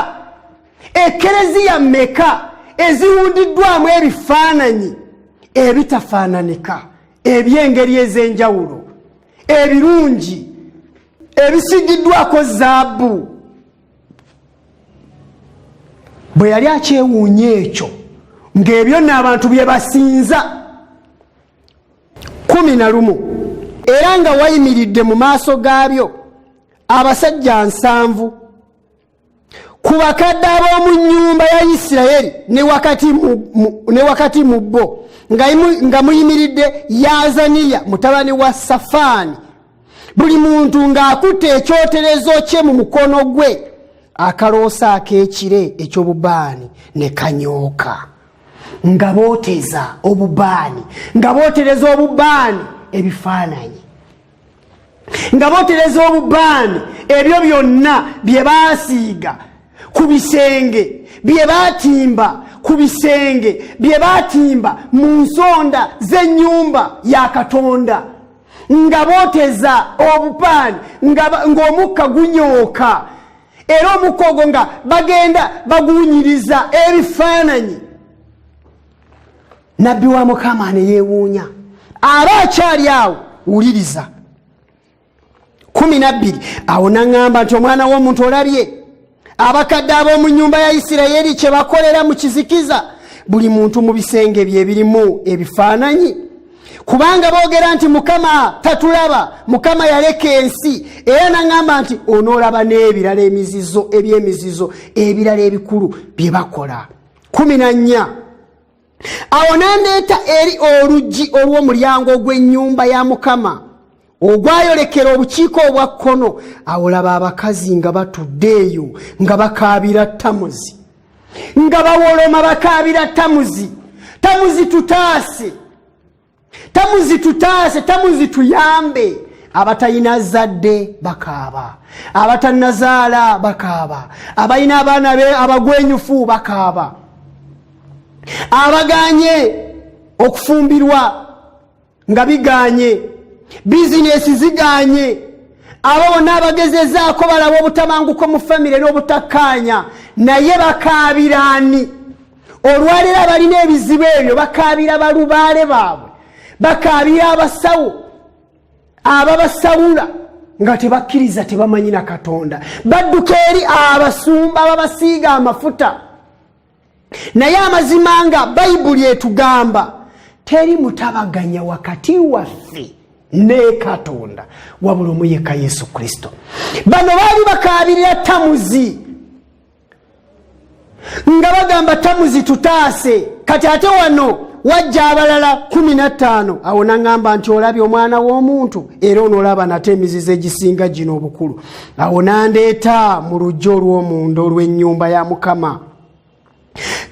ekereziya meka eziwundiddwamu ebifaananyi ebitafaananika eby'engeri ez'enjawulo ebirungi ebisigiddwako zaabu bwe yali akyewuunya ekyo ng'ebyo nno abantu bye basinza kumi na lumu era nga wayimiridde mu maaso gaabyo abasajja nsanvu ku bakadde ab'omu nnyumba ya isirayiri ne wakati mu bo nga muyimiridde yazaniya mutabani wa safaani buli muntu ng'akutte ekyoterezo kye mu mukono gwe akaloosa ak'ekire eky'obubaani ne kanyooka nga booteza obubaani nga bootereza obubaani ebifaananyi nga botereza obubaani ebyo byonna bye baasiiga ku bisenge bye baatimba ku bisenge bye baatimba mu nsonda z'ennyumba ya katonda nga booteza obupaani ng'omukka gunyooka era omukka ogwo nga bagenda baguwunyiriza ebifaananyi nabbi wa mukama neyewuunya aba akyali awo wuliriza kumi nabbiri awo naŋŋamba nti omwana w'omuntu olabye abakadde ab'omu nyumba ya isirayiri kye bakolera mu kizikiza buli muntu mu bisenge bye birimu ebifaananyi kubanga boogera nti mukama tatulaba mukama yaleka ensi era naŋŋamba nti onoolaba n'ebirala emizizo eby'emizizo ebirala ebikulu bye bakola kumi na nnya awo n'andeeta eri oluggi olw'omulyango ogw'ennyumba ya mukama ogwayolekera obukiiko obwa kkono awo laba abakazi nga batudde eyo nga bakaabira tamuzi nga bawoloma bakaabira tamuzi tamuzi tutaase tamuzi tutaase tamuzi tuyambe abatalina zadde bakaaba abatanazaala bakaaba abalina abaana be abagwenyufu bakaaba abaganye okufumbirwa nga biganye bizinesi ziganye abo bonna abagezezaako balaba obutabanguko mu famire n'obutakkaanya naye bakaabiraani olwaleero abalina ebizibu ebyo bakaabira balubaale baabwe bakaabira abasawo ababasawula nga tebakkiriza tebamanyi na katonda badduka eri abasumba babasiiga amafuta naye amazima nga bayibuli etugamba teri mutabaganya wakati waffe ne katonda wabula omuyeka yesu kristo bano baali bakaabirira tamuzi nga bagamba tamuzi tutaase kati ate wano wajja abalala kumi nattaano awo naŋamba nti olabye omwana w'omuntu era onoolaba nate emizizo egisinga gino obukulu awo nandeeta mu luggi olw'omunda olw'ennyumba ya mukama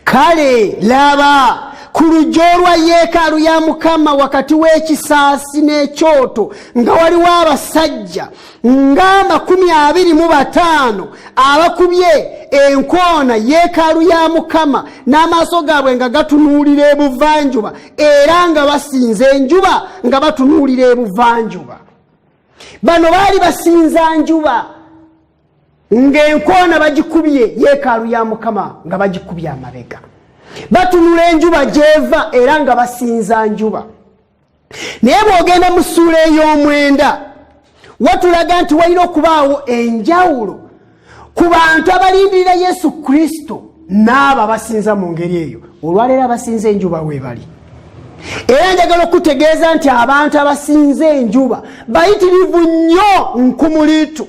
kale laba ku luggi olwa yeekaalu ya mukama wakati w'ekisaasi n'ekyoto nga waliwo abasajja ng'amakumi abiri mu bataano abakubye enkoona yeekaalu ya mukama n'amaaso gaabwe nga gatunuulira ebuvanjuba era nga basinza enjuba nga batunuulira ebuvanjuba bano baali basinza njuba ng'enkoona bagikubye yeekaalu ya mukama nga bagikubye amabega batunula enjuba gy'eva era nga basinza njuba naye bw'ogenda mu ssuula ey'omwenda watulaga nti walina okubaawo enjawulo ku bantu abalindirira yesu kristo n'abo abasinza mu ngeri eyo olwaleero abasinza enjuba weebali era njagala okutegeeza nti abantu abasinza enjuba bayitirivu nnyo nkumuliitu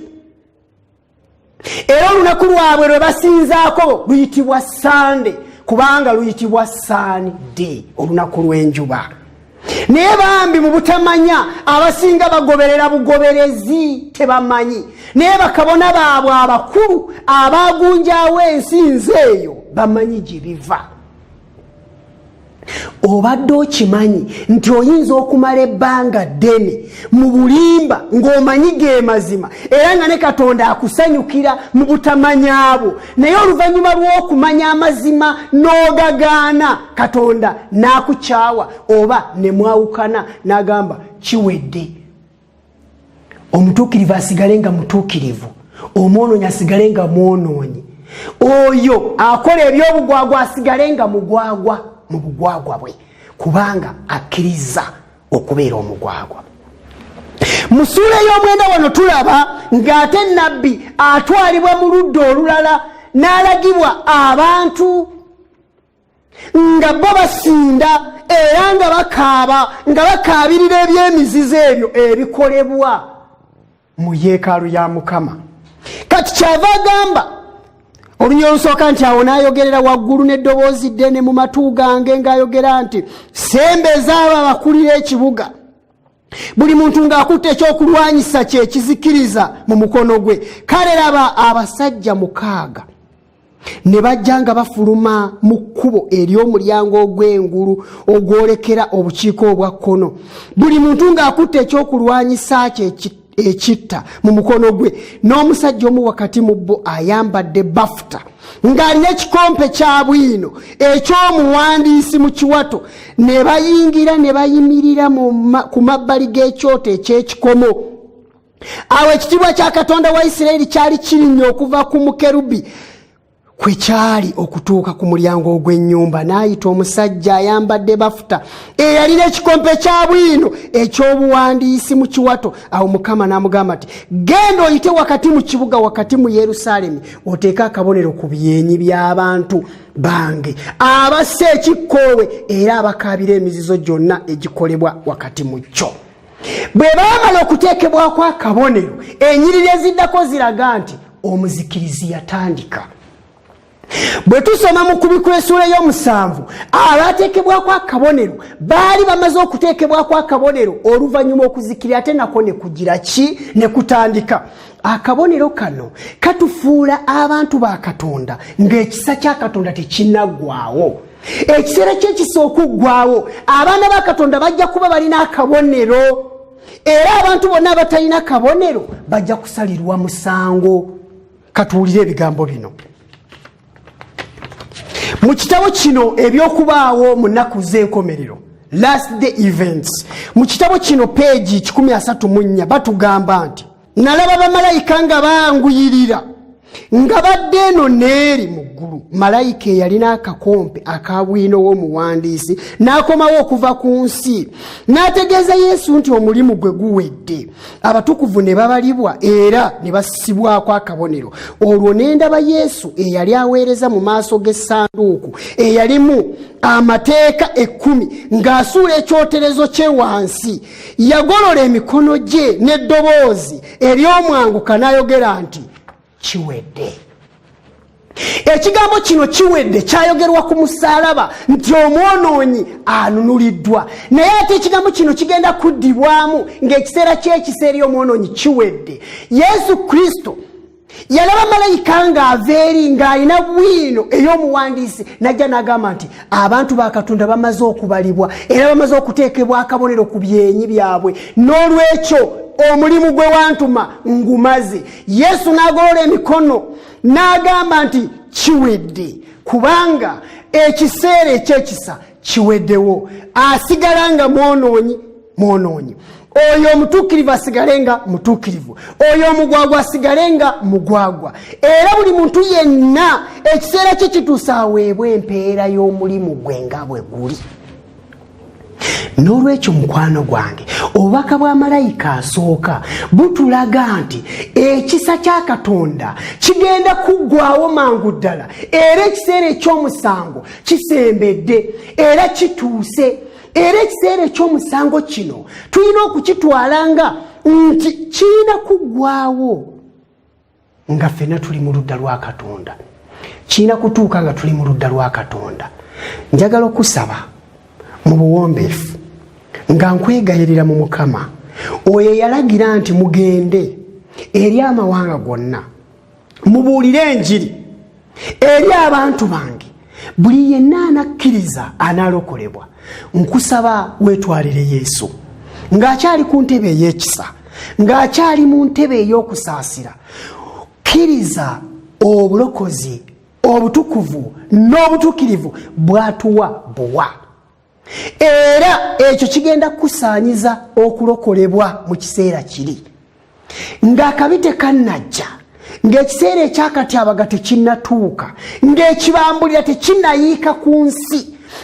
era olunaku lwabwe lwe basinzaako luyitibwa sande kubanga luyitibwa saani de olunaku lw'enjuba naye bambi mu butamanya abasinga bagoberera bugoberezi tebamanyi naye bakabona baabwe abakulu abaagunjawo ensi nze eyo bamanyi gye biva obadde okimanyi nti oyinza okumala ebbanga ddene mu bulimba ng'omanyi ge mazima era nga ne katonda akusanyukira mu butamanyabwo naye oluvannyuma lw'okumanya amazima n'ogagaana katonda n'akukyawa oba ne mwawukana n'agamba kiwedde omutuukirivu asigale nga mutuukirivu omwonoonyi asigale nga mwonoonyi oyo akola ebyobugwagwa asigale nga mugwagwa mu bugwagwa bwe kubanga akkiriza okubeera omugwagwa mu suula ey'omwenda wano tulaba ng'ate nabbi atwalibwa mu ludda olulala n'alagibwa abantu nga bo basinda era nga bakaaba nga bakaabirira ebyemizizo ebyo ebikolebwa mu yeekaalu ya mukama kati kyava agamba oluny olusooka nti awo n'ayogerera waggulu n'eddoboozi ddene mu matu gange ng'ayogera nti sembeza abo abakulira ekibuga buli muntu ng'akutte ekyokulwanyisa kyekizikiriza mu mukono gwe kale laba abasajja mukaaga ne bajja nga bafuluma mu kkubo ery'omulyango ogw'engulu ogwolekera obukiiko obwa kkono buli muntu ng'akutte ekyokulwanyisa kye ekitta mu mukono gwe n'omusajja omu wakati mu bo ayambadde bafuta ng'alina ekikompe kya bwino eky'omuwandiisi mu kiwato ne bayingira ne bayimirira ku mabbali g'ekyoto eky'ekikomo awo ekitiibwa kya katonda wa isiraeri kyali kirinnya okuva ku mukerubi kwe kyali okutuuka ku mulyango ogw'ennyumba n'ayita omusajja ayambadde bafuta eyalina ekikompe kya bwino eky'obuwandiisi mu kiwato awo mukama n'amugamba nti genda oyite wakati mu kibuga wakati mu yerusaalemi oteeke akabonero ku byenyi by'abantu bange abassa ekikkoowe era abakaabira emizizo gyonna egikolebwa wakati mu kyo bwe baamala okuteekebwako akabonero enyiriri eziddako ziraga nti omuzikirizi yatandika bwe tusoma mu kubikwesuula y'omusanvu abaateekebwako akabonero baali bamaze okuteekebwako akabonero oluvannyuma okuzikiri ate nako ne kugira ki ne kutandika akabonero kano katufuula abantu ba katonda ng'ekisa kya katonda tekinaggwawo ekiseera kyekisa okuggwawo abaana ba katonda bajja kuba balina akabonero era abantu bonna abatalina kabonero bajja kusalirwa musango katuwulire ebigambo bino mu kitabo kino ebyokubaawo mu nnaku z'enkomerero last day events mu kitabo kino peegi 134 batugamba nti nalaba bamalayika nga banguyirira nga badde eno neeri mu ggulu malayika eyalina akakompe aka bwino w'omuwandiisi n'akomawo okuva ku nsi n'ategeeza yesu nti omulimu gwe guwedde abatukuvu ne babalibwa era ne bassibwako akabonero olwo n'endaba yesu eyali aweereza mu maaso g'essanduuku eyalimu amateeka ekkumi ng'asuula ekyoterezo kye wansi yagolola emikono gye n'eddoboozi ery'omwanguka n'ayogera nti kiwedde ekigambo kino kiwedde kyayogerwa ku musaalaba nti omwonoonyi anunuliddwa naye ate ekigambo kino kigenda kuddibwamu ng'ekiseera ky'ekisa eri omwonoonyi kiwedde yesu kristo yalaba malayika ng'ava eri ng'alina bwino ey'omuwandiisi najja n'agamba nti abantu ba katonda bamaze okubalibwa era bamaze okuteekebwa akabonero ku byenyi byabwe n'olwekyo omulimu gwe wantuma ngumaze yesu n'agolola emikono n'agamba nti kiwedde kubanga ekiseera ekyekisa kiwedewo asigala nga mwonoonyi mwonoonyi oyo omutuukirivu asigale nga mutuukirivu oyo omugwagwa asigale nga mugwagwa era buli muntu yenna ekiseera kye kituusa aweebwa empeera y'omulimu gwe nga bwe guli n'olwekyo mukwano gwange obubaka bwa malayika asooka butulaga nti ekisa kya katonda kigenda kuggwawo mangu ddala era ekiseera eky'omusango kisembedde era kituuse era ekiseera ekyomusango kino tulina okukitwala nga nti kirina kuggwawo nga ffena tuli mu ludda lwa katonda kirina kutuuka nga tuli mu ludda lwa katonda njagala okusaba mu buwombeefu nga nkwegayirira mu mukama oyo eyalagira nti mugende eri amawanga gonna mubuulire enjiri eri abantu bange buli yenna anakkiriza anaalokolebwa nkusaba weetwalire yesu ng'akyali ku ntebe ey'ekisa ng'akyali mu ntebe ey'okusaasira kkiriza obulokozi obutukuvu n'obutuukirivu bwatuwa buwa era ekyo kigenda kukusaanyiza okulokolebwa mu kiseera kiri ng'akabi tekannajja ng'ekiseera ekyakatyabaga tekinnatuuka ng'ekibambulira tekinayiika ku nsi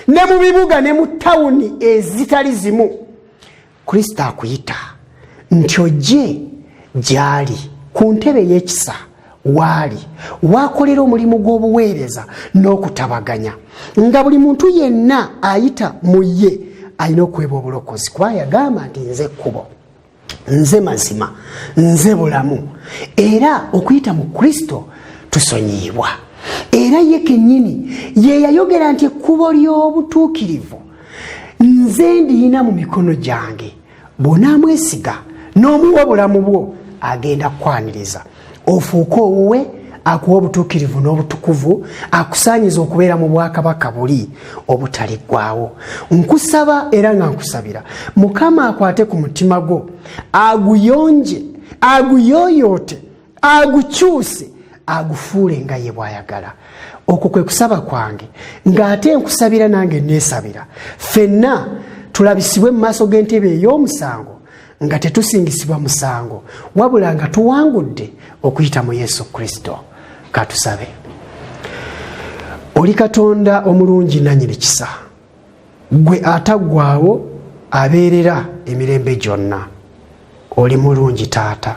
ne mu bibuga ne mu tawuni ezitali zimu kristo akuyita nti ojje gyali ku ntebe y'ekisa waali waakolera omulimu gw'obuweereza n'okutabaganya nga buli muntu yenna ayita mu ye alina okuweba obulokozi kuba yagamba nti nze ekkubo nze mazima nze bulamu era okuyita mu kristo tusonyiyibwa era ye kennyini ye yayogera nti ekkubo ly'obutuukirivu nze ndiyina mu mikono gyange bwonaamwesiga n'omuwa obulamu bwo agenda kukwaniriza ofuuke owuwe akuwa obutuukirivu n'obutukuvu akusaanyiza okubeera mu bwakabaka buli obutaliggwawo nkusaba era nga nkusabira mukama akwate ku mutima gwo aguyonje aguyooyoote agukyuse agufuule nga ye bwayagala okwo kwe kusaba kwange ng'ate nkusabira nange neesabira fenna tulabisibwe mu maaso g'entebe ey'omusango nga tetusingisibwa musango wabula nga tuwangudde okuyita mu yesu kristo katusabe oli katonda omulungi nanyini kisa gwe ataggwaawo abeerera emirembe gyonna oli mulungi taata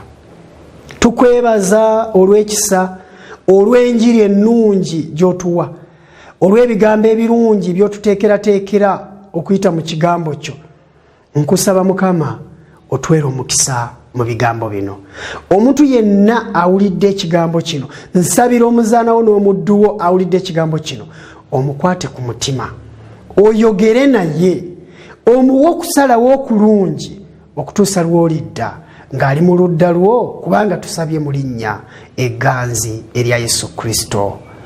tukwebaza olw'ekisa olw'enjiri ennungi gy'otuwa olw'ebigambo ebirungi by'otuteekerateekera okuyita mu kigambo kyo nkusaba mukama otwere omukisa mu bigambo bino omuntu yenna awulidde ekigambo kino nsabira omuzaanawo n'omudduwo awulidde ekigambo kino omukwate ku mutima oyogere naye omuwa okusalawo okulungi okutuusa lwolidda ng'ali mu ludda lwo kubanga tusabye mu linnya eganzi erya yesu kristo